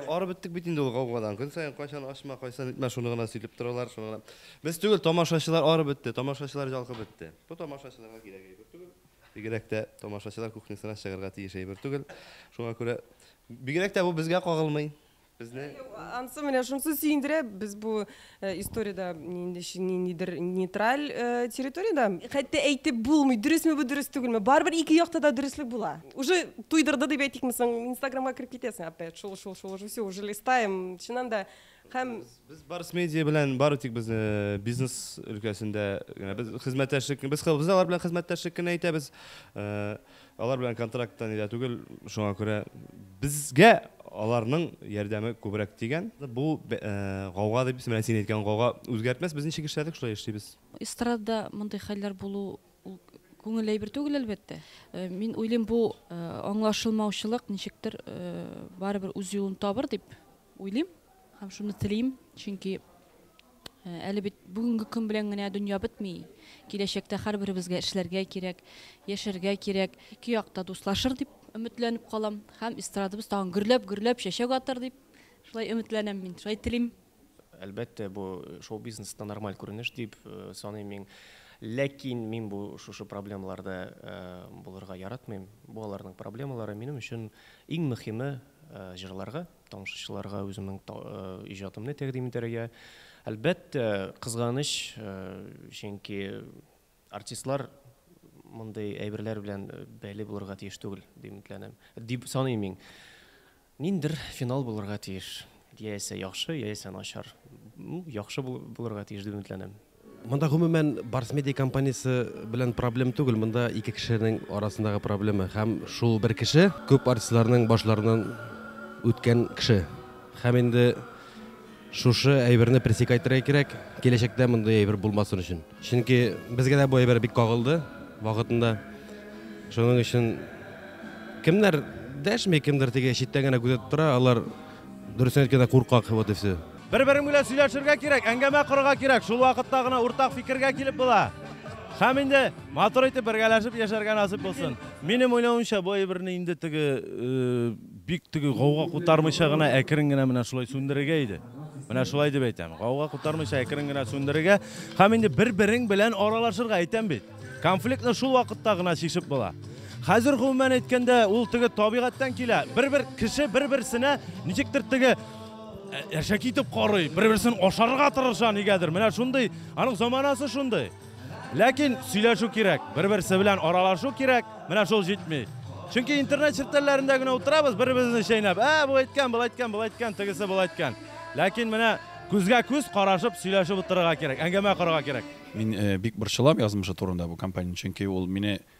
барып беттек бит инде ул гаугадан көн саен кайчан ашма кайчан итмә шуны гына сөйләп торалар шуны гына без түгел тамашачылар арып бетте тамашачылар җалкып бетте бу тамашачыларга кирәк әйбер түгел бигрәк тә тамашачылар кухнясына чыгарга тиеш әйбер түгел шуңа күрә Бигрәк тә бу безгә кагылмый. Безне Ансы менә шунсы сөендерә, без бу историядә нинди ниндидер нейтраль территориядә. Хәтта әйтеп булмый, дөресме бу, дөрес түгелме. Барыбер ике якта да дөреслек була. Уже туйдырды дип әйтикме соң, инстаграмга кереп китәсең опять, шул, шул, шул, уже всё, уже листаем. Чыннан да, Һәм без Барс медиа белән бары тик без бизнес өлкәсендә генә без хезмәттәшлек без без алар белән хезмәттәшлек кенә итәбез. Алар белән контракттан иде түгел, шуңа күрә безгә аларның ярдәме күбрәк дигән. Бу гауга дип исемләнә, син әйткән гауга үзгәртмәс, без ничек эшләдек, шулай эшлибез. Эстрадада мондый хәлләр булу ул күңелле әйбер түгел, әлбәттә. Мин уйлыйм, бу аңлашылмаучылык ничектер барыбер үз юлын табыр дип Уйлыйм һәм шуны телим, чөнки әле бит бүгенге көн белән генә дөнья бетми. Киләчәктә һәрберебезгә эшләргә кирәк, яшәргә кирәк. Ике як та дуслашыр дип өметләнеп калам һәм эстрадабыз тагын гөрләп-гөрләп чәчәк атыр дип шулай өметләнәм мин, шулай телим. Әлбәттә, бу шоу-бизнесны нормаль күренеш дип саныйм мин. Ләкин мин бу шушы проблемаларда булырга яратмыйм. Бу аларның проблемалары. Минем өчен иң мөхиме, җырларга, тамашачыларга үземнең иҗатымны тәкъдим итәргә. Әлбәттә, кызганыч, чөнки артистлар мондый әйберләр белән бәйле булырга тиеш түгел, дип өметләнәм. Дип саныйм мин. Ниндидер финал булырга тиеш. Яисә яхшы, яисә начар. Яхшы булырга тиеш дип өметләнәм. Монда гомумән Барс Медиа компаниясе белән проблем түгел, монда ике кешенең арасындагы проблема һәм шул бер кеше күп артистларның башларыннан үткән кеше. Һәм инде шушы әйберне пресекать итәргә кирәк, киләчәктә мондый әйбер булмасын өчен. Чөнки безгә дә бу әйбер бик кагылды вакытында. Шуның өчен кемнәр дәшми, кемдер теге читтән генә күзәтеп тора, алар дөресен әйткәндә куркак, вот и все. Бер-берең белән сөйләшергә кирәк, әңгәмә корырга кирәк. Шул вакытта гына уртак фикергә килеп була. Һәм инде матур итеп бергәләшеп яшәргә насыйп булсын. Минем уйлавымча, бу әйберне инде теге бик теге гауга кутармыйча гына әкрен генә менә шулай сүндерергә иде. Менә шулай дип әйтәм. Гауга кутармыйча әкрен генә сүндерергә һәм инде бер-берең белән аралашырга әйтәм бит. Конфликтны шул вакытта гына чишеп була. Хәзер гомумән әйткәндә, ул теге табигатьтән килә. Бер-бер кеше бер-берсенә ничектер теге Ә, әшәк итеп карый, бер-берсен ашарга тырыша нигәдер. Менә шундый, аның заманасы шундый. Ләкин сөйләшү кирәк, бер-берсе белән аралашу кирәк, менә шул җитми. Чөнки интернет челтәрләрендә генә утырабыз, бер-беребезне чәйнәп, ә, бу әйткән, бу әйткән, бу әйткән, тегесе бу әйткән. Ләкин менә күзгә күз карашып сөйләшеп утырырга кирәк, әңгәмә корырга кирәк. Мин э, бик борчылам язмышы турында бу компания, чөнки ул мине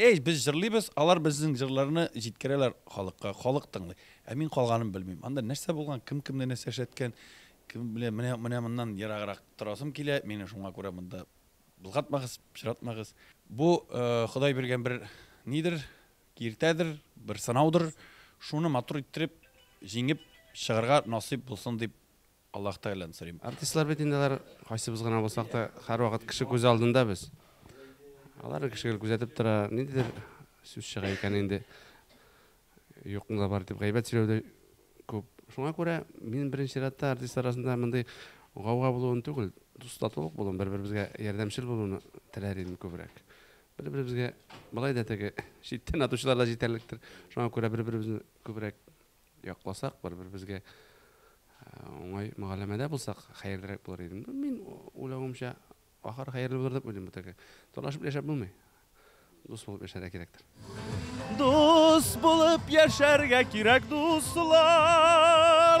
Эй, без җырлыйбыз, алар безнең җырларны җиткерәләр халыкка, халык тыңлый. Ә мин калганын белмим. Анда нәрсә булган, кем кемне нәрсә эшләткән, кем белә, менә, менә моннан ераграк торасым килә, мине шуңа күрә монда болгатмагыз, пычратмагыз. Бу э, Ходай биргән бер нидер, киртәдер, бер сынаудыр. Шуны матур иттереп, җиңеп чыгарга насыйп булсын дип Аллаһ Тәгаләдән сорыйм. Артистлар бит инде алар, кайсыбыз гына булсак та, һәрвакыт кеше күз алдында без. Алар кешегел күзәтеп тора, ниндидер сүз чыга икән инде. Юкны да бар дип гайбәт сөйләү дә күп. Шуңа күрә мин беренче чиратта артистлар арасында мондый гауга булуын түгел, дус, татулык булуын, бер-беребезгә ярдәмчел булуны теләр идем күбрәк. Бер-беребезгә болай да теге читтән атучылар да җитәрлектер. Шуңа күрә бер-беребезне күбрәк якласак, бер-беребезгә уңай мөгаләмәдә булсак, хәерлерәк булыр иде. Мин уйлавымча, ахыр хәерле булыр дип уйлыйм бөтәгә. Талашып яшәп булмый. Дус булып яшәргә кирәктер. Дус булып яшәргә кирәк, дуслар!